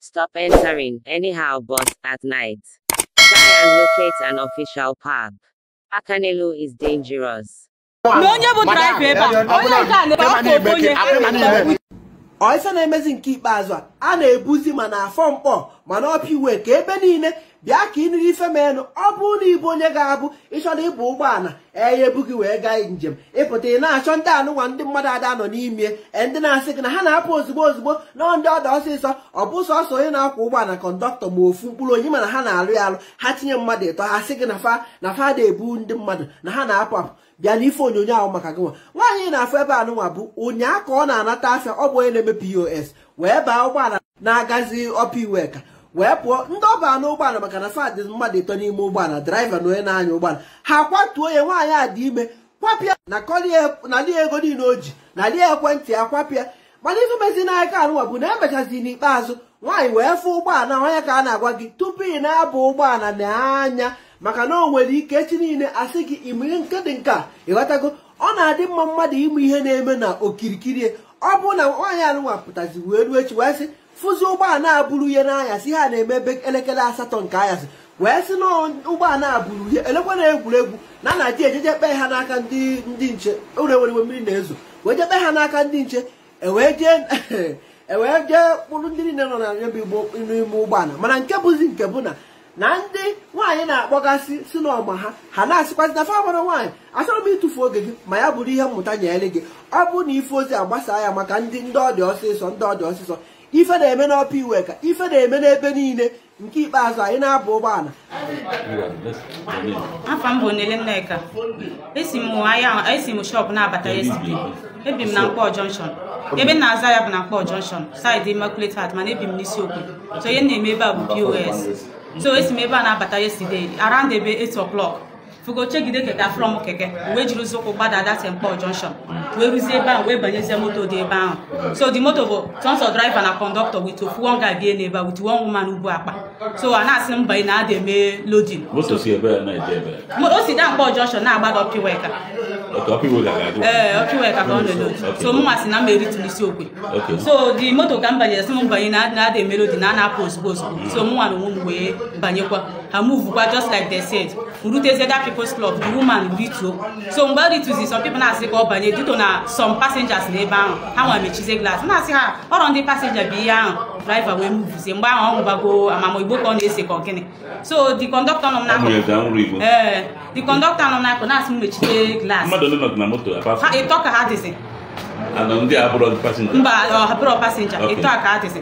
Stop entering anyhow bus at night. Try and locate an official park. Akanelu is dangerous. na onye bụ draiva ebe a onye nke a na-ebe afọ ofu onye ọ ife na-emezi nke ikpeazụ a a na-ebuzi ma na Afọ Nkpọ ma na Ọpa Iweka ebe niile bịa ka ị nụrụ ife menụ ọ bụrụ na ị bụ onye ga-abụ ị chọrọ ịba ụgbọala e ye-ebu gị wee gaa njem ị pụta ị na-achọ ndị anụnwa ndị mmadụ ada anọ n'ime e, ndị na-asị gị na ha na-apụ ozugbo ozugbo na ndị ọ dị ọsịsọ ọ bụ sọsọ onye na-akwọ ụgbọala kọndọktọ ma ofu mkpụrụ onye mana ha na-alụ ya alụ ha tinye mmadụ ịtọ ha sị gị na fa na fa da ebu ndị mmadụ na ha na-apụ apụ bịa n'ife onyonyo ahụ maka gị nwa nwaanyị ị na-afụ ebe anụnwa bụ ụnyaa ka ọ na-anata afịa ọ bụ onye na-eme POS wee baa ụgbọala na-agazi Ọpa Iweka wee pụọ ndị ọ ba n'ụgbọala maka na fa dị mmadụ ịtọ n'ime ụgbọala draiva na onye na-anya ụgbọala ha kwatuo ya nwaanyị a dị ime kwapịa nakọlie ego niile o ji nalie ekwentị ya kwapịa mana ife mezi n'aka anụnwa bụ na e mechazi n'ikpeazụ nwaanyị wee fụ ụgbọala onye ka a na-agwa gị tupu ị na-aba ụgbọala nee anya maka na o nwere ike echi niile a sị gị ime nke dị nke a ị ghọtago ọ na-adị mma mmadụ ịmụ ihe na-eme na okirikiri ọ bụrụ na nwaanyị anụnwa pụtazi wee ruo echi wee sị fụzi ụgbọala buru ya n'anyasị ihe a na-eme ebe elekere asatọ nke anyasị wee sị na ụgbọala buru ya e lekwa na egwuregwu na na ji ejeje kpee ha n'aka ndị ndị nche ọrọ egwuregwu mmiri na-ezo wee jee kpee ha n'aka ndị nche e wee jee e wee jee kpụrụ ndị niile nọ na ya bụ ụgbọ n'ime ụgbọala mana nke bụzi nke bụ na na ndị nwaanyị na-akpọgasị sị na ọ ma ha ha na-asịkwazi na fa mara nwaanyị achọrọ m ịtụfu oge gị ma ya bụrụ ihe mmụta nyere gị ọ bụrụ na ị fụ ozi a gbasaa ya maka ndị ndị ọ dị ọsịsọ ndị ọ dị ọsịsọ ife na-eme n'Ọpa Iweka ife na-eme n'ebe niile nke ikpeazụ anyị na-aba ụgbọala afa m bụ Onele Nneka esi m ahịa esi m shop na-abata yesterday ebi m na Nkpọ junction ebe m na-azụ ahịa bụ na Nkpọ junction side Immaculate Heart mana ebi m n'Isiokwe so ihe m na-eme ebe a bụ POS so esi m ebe a na-abata yesterday around ebe 8 o'clock fugo chegide keke afụrọ m keke wee jiri ụzọ ụkwụ gbada that Nkpọ junction wee ruzie ebe ahụ wee banyezie moto dị ebe ahụ so the moto bụ sọsọ driver na conductor with ofu one guy bie n'ebe a with one woman bu akpa so a na-asị m banye na ada eme loading moto si ebe a na-eje ebe a. Mo- o si that Nkpọ junction na-agbada Ọpa Iweka Ọpa Iweka ga-aga. ee Ọpa Iweka ka ọ na-eload so mụ m asị na m eritu n'Isiokwe Okay. so the moto ka m banyere sị m banye na ada eme loading na a na-apụ ozugbo ozugbo so mụ nwa na onwe m wee banyekwa ha movekwa just like they said rutezie that people's club the woman rituo so mgbe ọ rituzi some people na-asị ka ọ banye due to na some passengers nọ ebe ahụ ha nwa mechizie glass na-asị ha ọrọ ndị passenger bụ ihe ahụ driver wee movezie mgbe ahụ ọ ṅụbago ama m ma ọ igbo ka ọ na-ese ka ọ gịnị so the conductor nọ m Ọ nwere n'akụkụ ka ṅụrụ igbo. ee the conductor nọ m n'akụkụ na-asị m mechite glass Mmadụ ole nọ na moto apart ha from- ịtọ ka ha dịzi Anọ ndị a bụrụ passenger. mba o ha abụrọ passenger Okay. ịtọ ka ha dịzi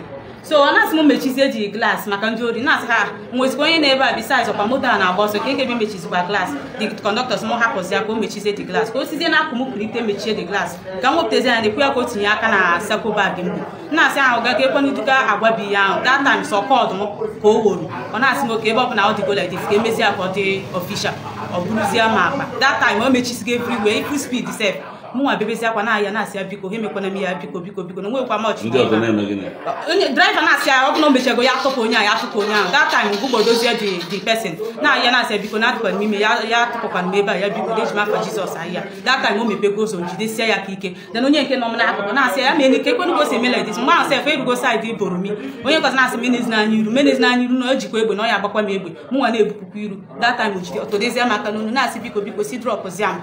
so ọ na-asị m mechizie the glass maka ndị ori na-asị ha nwezikwa onye nọ ebe a besides ọkwa moto a na-agba ọsọ ka ekebi mechizikwa glass the conductor sị m hapụzi ya ka o mechizie the glass ka o sizie na akụ m pụlite mechie the glass ka m wepụtazie ya na-ekwu ya ka o tinye aka na sako bag m bụ na-asị ahụ gaga ekwenuduga agwabi ya ahụ that time sọ kọdụ m ka o woro ọ na-asị m okay ebe ọ bụ na ọ dịgo like this ka emezie ya ka ọ dị official ọ bụrụzie ma akpa that time o mechisigo everywhere ifụ speed sef mụnwa bebezi akwa na-ayọ na-asị ya biko ha emekwana m ya biko biko biko na nwekwa m ọchị ndị ọzọ na-eme gịnị onye driver na-asị ya ọ bụrụ na o mechego ya atụpụ onye ahụ ya atụpụ onye ahụ that time ụgbọ dozie the the person na-ayọ na-asị ya biko na adịkwanụ m ime ya ya atụpụkwana m ebe a ya biko na eji m afa Jizọs ayọ ya that time o mepego ụzọ jidesie ya aka ike then onye nke nọ m n'akụkụ na-asị ya ya mee ka ekwenu gosi eme like this mgbe ahụ sef erugo side Boromi onye nke ọzọ na-asị m enezina ya iru m enezina ya iru na o jikwa egbe na ọ ya agbakwa m egbe mụnwa na-ebupụkwa iru that time o jide ọ tọdezie m aka n'onu na-asị biko biko si drọpụzia m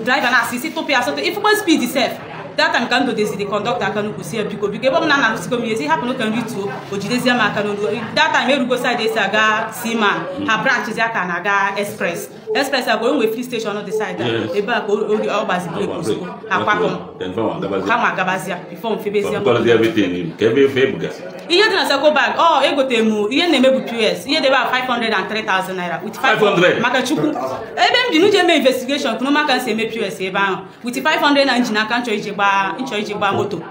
driver na-asị sị tụpụ ya sọtụ ifụkwa speed sef that time ka m dọdezi the conductor aka n'ụkwụ sị ya biko biko ebe ọ bụ na a narasịgo m ihe sị hapụnụ ka m rituo o jidezie m aka n'olu that time erugo side esi aga Seaman ha branchịzia ka a na-aga express express agwa enwe filling station dị side Yes. ebe a ka o- o- ọ gbazi brake ozugbo akwapụ m Then, ha ma gabazia before m febezie m Because everything, every babe, guys. ihe dị na sako bag ọ oh, egotere m ihe na-eme bụ POS ihe dị ebe a 503,000 naira with 500 maka chukwu ebe m ji n'uche eme investigation kwuru maka nsi eme POS ebe ahụ with 500 na m ji n'aka m chọ iji gbaa m chọ iji gbaa moto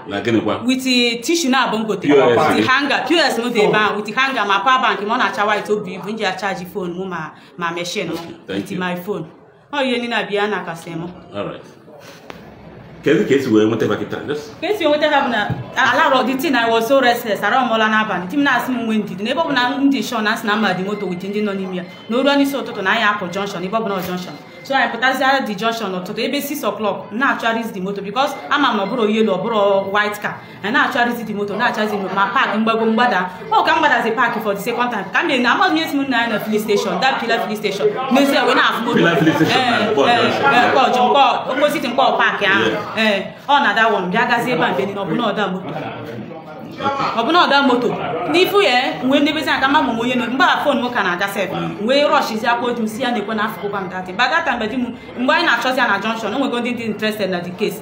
with eh, tissue naabọ m gote with hanger POS m dị ebe ahụ with hanger ma power bank ma ọ na-acha white o bu ibu m ji achaji phone m ma ma machine m with my phone ọ ihe niile abịa nakọsị m kedu ka esi wee nweta ha kịta ka esi nweta ha bụ na alarọ the thing I was so restless ararọ m ụla n'abalị di m na-asị m nwe ndidi n'ebe ọ bụ na m dị sure na sị na m ma the moto with ndị nọ n'ime ya na o ruo n'isi ụtụtụ na anyị apụ junction ebe ọ bụ na junction so anyị pụtaziara the junction ụtụtụ ebe 6 o'clock na-achọgharịzi the moto because ama m na ọ bụrụ yellow ọ bụrụ white car a na-achọrịzi the moto na-achọzi ma park mgbago mgbada ọ ka m gbadazi park for the second time ka m na amaghị esi m na na filling station that Pillar filling station nezie wee na-afụ moto Pillar filling station na Ee, Nkpor ee, Junction. ee, Nkpor Junction, Nkpor- opposite Nkpor park ahụ ee ọ na that one bịa gazie ebe a mgbe niile ọbụna ọda moto ọbụna ọda moto n'ifu ya nwee ndebezi aka mma mụnwe onye nọ mgbe a phone m ka na-aga sef wee rushizi akwa otu m si ya na-ekwe na afụkụkwa m that mgbe that mgbe di m mgbe anyị na-achọzi ya na junction o nwego ndị dị interested na the case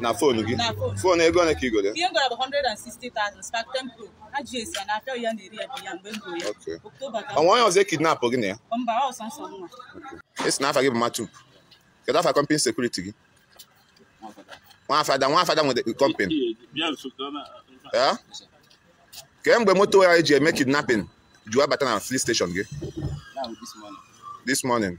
na phone gị Na phone. phone ego ole ka i goro ihe m goro ya bụ 160,000 Spark 10 Pro ha ji esi ya na afịa ya na-ere ya bụ ya mgbe m goro ya Okay. October ka o nwe onye ọzọ ekidnapụ gị na ya mba o sọsọ mụnwa ị sị na afa gị bụ matu kedu afa company security gị Nwa Fada Nwa Fada nwere company ya kemgbe moto ya eji eme kidnapping ji wabata na filling station gị this morning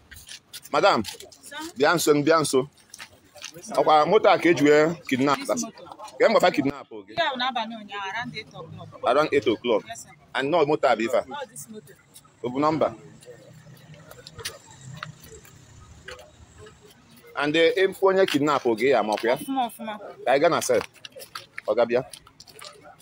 madam bịa nso bịa nso ọkwa moto a ka e ji wee kidnap ka mgbe fa kidnap gị around 8 o'clock and nọ moto a bụ ife a ọ bụ nọmba and ị fụ eh, onye kidnap oge ya ma ọkwa ya ka anyị gaa na cell ọga bịa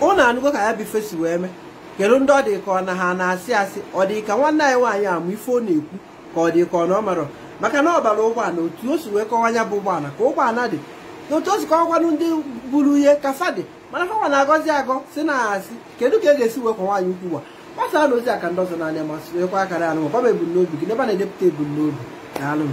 ụnụ anụgo ka ya bụ ife si wee mee kedu ndị ọ dị ka ọ na ha na-asị asị ọ dị ka nwanne anyị nwaanyị a ma ife ọ na-ekwu ka ọ dị ka ọ na ọ marọ maka na ọ bara ụgbọala otu o si wee kọwa ya bụ ụgbọala ka ụgbọala dị otu o si kọwakwanụ ndị buru ihe ka fa dị mana ha nwa na-agọzi agọ sị na asị kedu ka e ga-esi wee kwa nwaanyị ukwu wa gbasaanụ ozi a ka ndị ọzọ nụ ya ma sonyekwa akara anụ ma ebumnobi gị n'ebe a na-edepụta ebumnobi na alụm